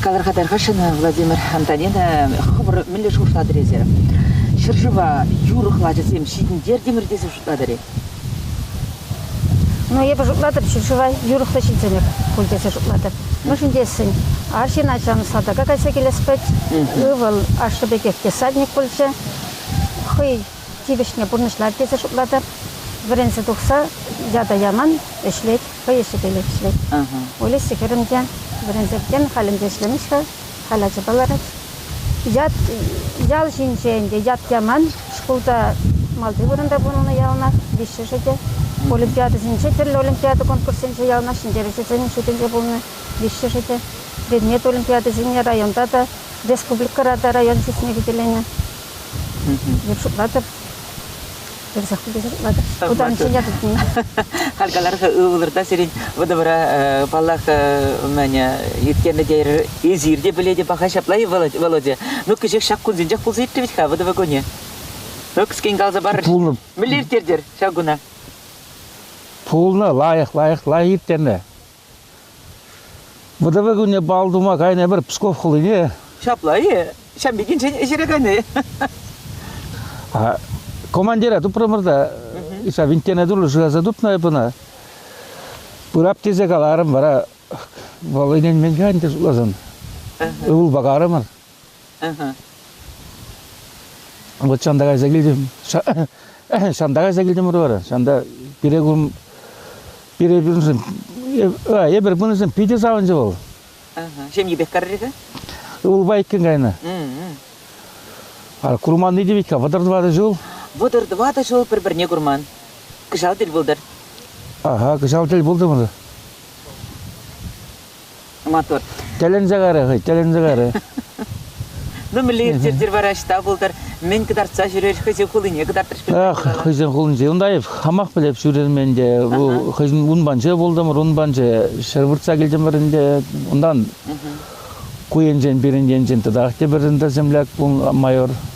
Калӑрха-тархасшӑн Владимир Антонина хӑвӑр мӗнле шутлатӑр эсир? Ҫӗршыва юрӑ хлачӗсем ҫитӗнтертӗмӗр тесе шутлатӑр-и? Ну, эпӗ шутлатӑп, ҫӗршыва юрӑхлӑ ҫитӗнӗр пуль тесе шутлатӑп. Мӗншӗн тесен арҫын ачан салтака кайса килес пек ывӑл ашшӗ пекех десантник пулчӗ. хӑй тивӗҫне пурнӑҫлать тесе шутлатӑп. Вӗренсе тухса ята яман, ӗҫлет, хӑй ӗҫӗпелех ӗҫлет. Олеся хӗрӗм те вӗренсе иккен, халь ӗнтӗ ӗҫлемест-ха, халь ачапа ларать. Ят, ял ҫинче ӗнтӗ ят яман. Шкулта малти вырӑнта пурӑннӑ яланах, виҫҫӗшӗ те. Олимпиадӑсенче, тӗрлӗ олимпиада конкурсенче яланах ҫӗнтерӳҫӗсен шутӗнче пулнӑ виҫҫӗшӗ те. Предмет олимпиадисене районта та, республикӑра та район чысне хӳтӗленӗ. Эп шутлатӑп. Персах тесе шутлатӑп. Кутаранччен тытни. Халь калар-ха ывӑлӑр та сирӗн вӑтӑвӑра паллах мӗне ирттернӗ тейӗр эсир те пӗлетӗп паха ҫапла и Володя ну кӗҫех ҫак кунсенчех пулса иртрӗ вӗт-ха вӑтӑвӑ кунӗ кӗскен каласа пар пулнӑ мӗнле ирттертӗр ҫак куна пулнӑ лайӑх лайӑх лайӑх ирттернӗ Вӑтӑрвӗ кунне бал тума кайнӑ пӗр Псков хулине. Ҫапла-и? Ҫам пикенсен ӗҫре кайнӑ. Командира тупрӑмӑр та ҫав винттене тулли шыраса тупнӑ эп ӑна. Пырап тесе каларӑм вара вӑл ӗненмен ӗнтӗ шутласан. Ывӑл пакарӑмӑр. Вот ҫанта кайса килтӗм. Ҫанта кайса килтӗмӗр вара. Ҫанта пире курм пире пӳрншӗн эпир пынӑшӑн питӗ савӑнчӗ вӑл. Ҫемйипех карри-ха? Ывӑлпа иккӗн кайнӑ. Курманни те витка, вӑтӑр тӑватӑ ҫул. Вӑтӑр тӑватӑ ҫул пӗр-пӗрне курман. Кӑҫал тӗл пултӑр. Ага, кӑҫал тӗл пултӑмӑр. Матур. Тӗлӗнсе карӗ хӑй, тӗлӗнсе карӗ. Ну, мӗнле ирттерчӗр вара ӑҫта пултӑр? Мӗн кӑтартса ҫӳрер хӑйсен хулине кӑтартрӗҫ? Ах, хӑйсен хулинче Юндаев хамах пӗлеп ҫӳрермен те. хӑйсен унпанче пултӑмӑр, унпанче ҫӗр выртса килтӗмӗр ӗнтӗ. Унтан ку енчен, пирӗн енчен тӑтах те пӗр ӗнтӗр земляк майор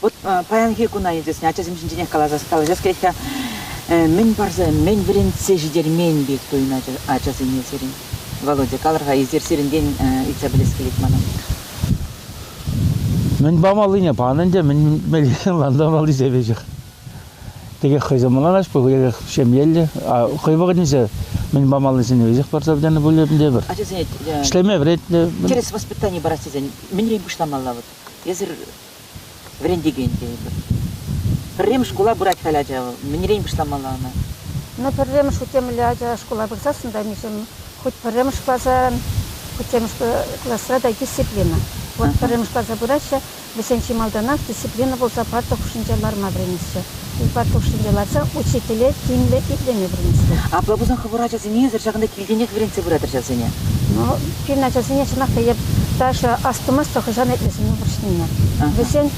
Вот паянхи куна, интересно, ачасем ҫинченех каласа калаҫас кӗрет-ха. Мӗн парса, мӗн вӗрентсе ҫитермен пек туйӑн ачасене сирӗн. Володя, калӑр-ха, эсир сирӗнтен ыйтса пӗлес килет манӑн. Мӗн памаллине пан ӗнтӗ, мӗн лантамалли сепечех. Текех хӑйсем мӑланаҫ пуль, эрех ҫемьеллӗ, хӑй вӑхӑтӗнче мӗн памаллисене веҫех парса пӗтернӗ пуль ӗнтӗ пӗр. Ачасене ӗҫлеме вӗрентнӗ. Тӗрӗс воспитани парас тесен мӗнрен пуҫламалла вот? Эсир вӗрентекен тетӗпӗр. Пӗрремӗш шкула пырать халь ача. Мӗнрен пуҫламалла ӑна? Ну, пӗрремӗш утемле ача шкула пырсассӑн та миҫем хуть пӗрремӗш класран, хутчемӗш класра та дисциплина. Вот пӗрремӗш класа пыраҫҫӗ, вӗсен чи малтанах дисциплина пулса парта хушшинче ларма вӗренеҫҫӗ. Унпа хушшинче ларса учителе тимлӗ итлеме вӗрентсен. Апла пулсан хӑвӑр ачасене эсир ҫакӑнта килтенех вӗрентсе пырать ачасене. Ну, пирӗн ачасене чӑнах та эп даже астумастӑп хӑҫан итлесене вӑрҫнине. Вӗсен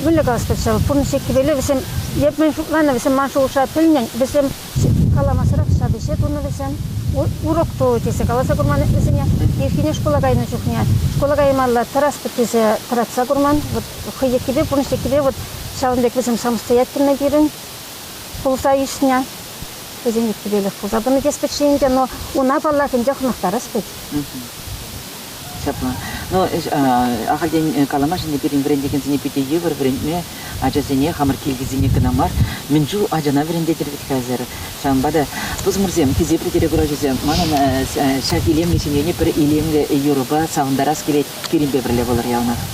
виле калас пуль ҫав, пурнӑҫӗ кивеле вӗсем, эп мӗн шутланӑ, вӗсем ман шухӑша пӗлнӗн, вӗсем каламасӑрах ҫав ӗҫе тунӑ вӗсем. Урок ту тесе каласа курман вӗсене. Ирхине шкула кайнӑ чухне шкула каймалла тӑратпӑр тесе тӑратса курман. Вот хӑй еккипе, пурнӑҫ еккипе вот ҫавӑн пек вӗсем самостоятельно пирӗн пулса ӳснӗ. Вӗсен еккипелӗх пулса тӑнӑ теспӗт-ши ӗнтӗ, но уна, паллах, ӗнтӗ хӑнӑхтарас вӗт. Ҫапла. Ну, ахальтен каламашӑн пирӗн вӗрентекенсене питӗ йывӑр вӗрентме, ачасене, хамӑр килтисене кӑна мар, мӗн чул ачана вӗрентетӗр вӗт хӗсӗр. Ҫавӑнпа та, пусмӑрсем, хисеплӗ телеграфҫӑсем, манӑн ҫак илемлӗ ҫемьене пӗр илемлӗ юрӑпа савӑнтарас килет. Пирӗнпе пӗрле пулӑр яланах.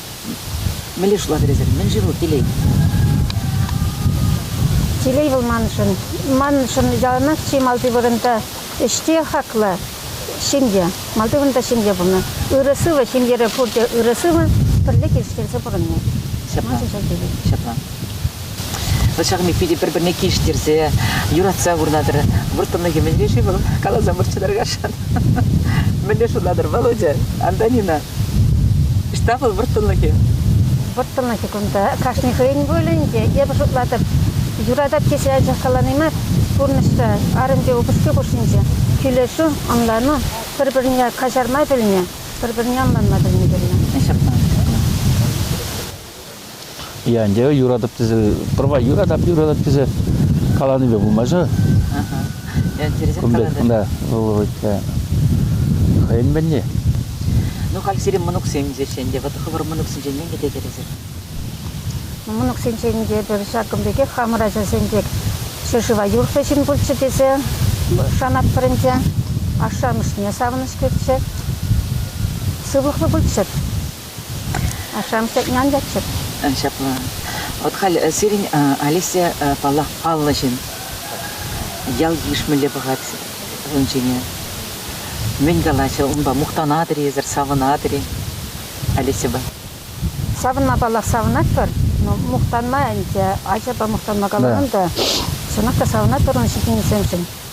Мӗнле шутлатӑр мӗн-ши вӑл телей? Телей вӑл маншӑн. Маншӑн яланах чи малти вырӑнта ӗҫте хаклӑ ҫемье. Малти вырӑнта ҫемье пулнӑ. Ырӑ-сывӑ ҫемьере пурте ырӑ-сывӑ, пӗрле килӗштерсе пурӑнни. Ҫапла. Маншӑн ҫак телей. Ҫапла. ҫакми питӗ пӗр-пӗрне килӗштерсе, юратса курнатӑр. Вӑрттӑнлӑхӗ мӗнле-ши вӑл? Каласа мӑрччӗ таркашан. Мӗнле шутлатӑр, Володя, Антонина? Ӑҫта вӑл вӑрттӑнлӑхӗ? Вӑрттӑнлӑхӗ кунта кашни хӑйӗн пулӗ ӗнтӗ. Эпӗ шутлатӑп, юратать тесе анчах калани мар, пурнӑҫра арӑмпе упӑшки хушшинче килӗшӳ, ӑнлану, пӗр-пӗрне каҫарма пӗлме, пӗр-пӗрне ӑнланма пӗлме кирлӗ. Ҫапла. Янтӗ юратӑп тесе, пӑрва юратап, юратап тесе каланипе пулмаҫҫӗ. Интересен калатӑр. Да, вӑл хӑйӗн мӗнни. Ну, халь сирӗн мӑнуксем тесе ӗнтӗ, вот хӑвӑр мӑнуксенчен мӗн кӗтетӗр эсир? Мӑнуксенчен те пӗр ҫакӑн пекех хамӑр ачасен пек ҫӗршыва юрӑхлӑ ҫын пулчӗ тесе шанатпӑр ӗнтӗ. Ашшӗ-амӑшне савӑнӑҫ кӳрччӗ, сывлӑхлӑ пулччӑр. Ашшӗ амӑшӗ янчаччӑр. Ҫапла. Вот халь сирӗн Алеся, паллах, паллӑ ҫын. Ял-йыш мӗнле пӑхать ун ҫине. Мӗн калаҫӗ унпа? Мухтанатӑр-и эсӗр, савӑнатӑр-и, Алесьӑпа? Савӑнма, паллах, савӑнатпӑр. Но мухтанма ӗнтӗ, ачапа мухтанма каламан та. Чӑнах та савӑнатпӑр ун ҫитӗнӳсемшӗн.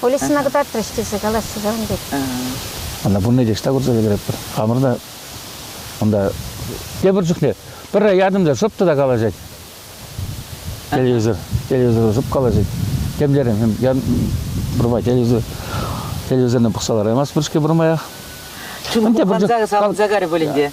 Полицина кӑтартрӗҫ тесе калаҫҫӗ ҫавӑн пек. Ана пурне те ӑҫта курса ӗлкӗретпӗр. Хамӑр та унта тепӗр чухне пӗрре ятӑм та шӑп та калаҫать. Телевизор, телевизору шӑп калаҫать. Тем терем, я пурма телевизор, телевизорна пӑхса лараймастпӑр-ҫке пурмаях. Чугун ханза савӑнса карӗ пулин те.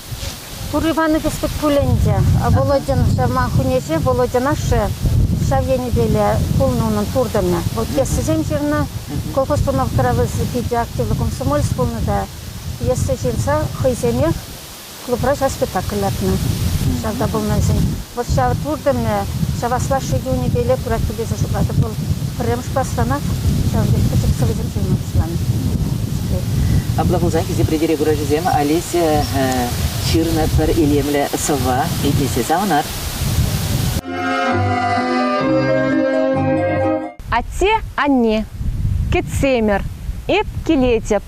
Тур Иванович пек пуль ӗнтӗ. Володьӑн ман хӳнеҫе, Володьӑн ашшӗ ҫав енӗпеле пулнӑ унӑн туртӑмӗ. Вӑл пьесӑсем ҫырнӑ. Колхоз тунавккара вӑл питӗ активлӑ комсомолец пулнӑ та пьеса ҫырса хӑйсемех клубра ҫав спектакль лартнӑ. Ҫавна пулнӑ вӗсен Вӑт ҫав туртӑмӗ чавасла шӗкӗ унӗпеле пыратпӑр тесе шутлатӑп. Вӑл пӗрремӗш класранах ҫавӑн пек пӗчӗк сӑвӑсем ҫырма пуҫланӑ. Апла пулсан Хисеп ретӗре куравҫӑсем Олеся ҫырнӑ пӗр илемлӗ сӑвва итлесе савӑнар. Атте-анне, кӗтсемӗр, эп килетӗп.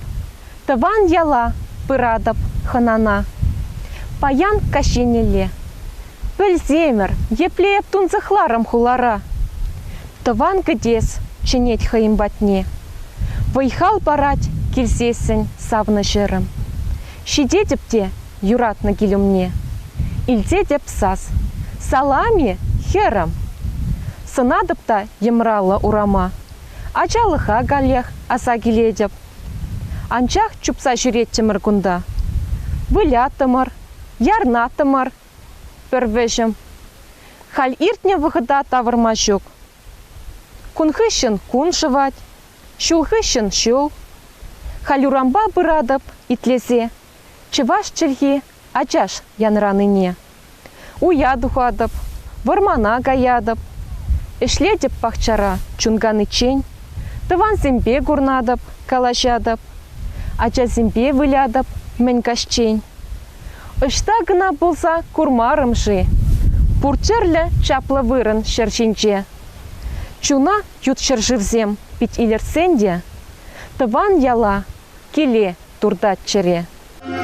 Тӑван яла пыратӑп хӑнана. Паян каҫ еннелле. Пӗлсемӗр, епле эп тунсӑхларӑм хулара. Тӑван кӗтес чӗнет хӑйӗн патне. Вӑй-хал парать килсессӗн савнӑ-ҫӗрӗм. Ҫитетӗп те юратнӑ кил умне. Илтетӗп сас. Салам-и, хӗрӗм? Сӑнатӑп та йӑмраллӑ урама. Ачалӑха каллех аса килетӗп. Анчах чупса ҫӳреттӗмӗр кунта. Вылятӑмӑр, ярнатӑмӑр. Пӗр вӗҫӗм. Халь иртнӗ вӑхӑта тавӑрма ҫук. Кун хыҫҫӑн кун шӑвать, ҫул хыҫҫӑн ҫул. Халь урампа пыратӑп итлесе. Чӑваш чӗлхи Ачаш янранине уя тухатӑп, вӑрмана каятӑп, ӗҫлетӗп пахчара чун каниччен, тӑвансемпе курнатӑп, калаҫатӑп, ачасемпе вылятӑп мӗн каҫчен. Ӑҫта кӑна пулса курмарӑм-ши пур тӗрлӗ чаплӑ вырӑн ҫӗр ҫинче? Чуна ют ҫӗршывсем пит илӗртсен те тӑван яла, киле туртать чӗре.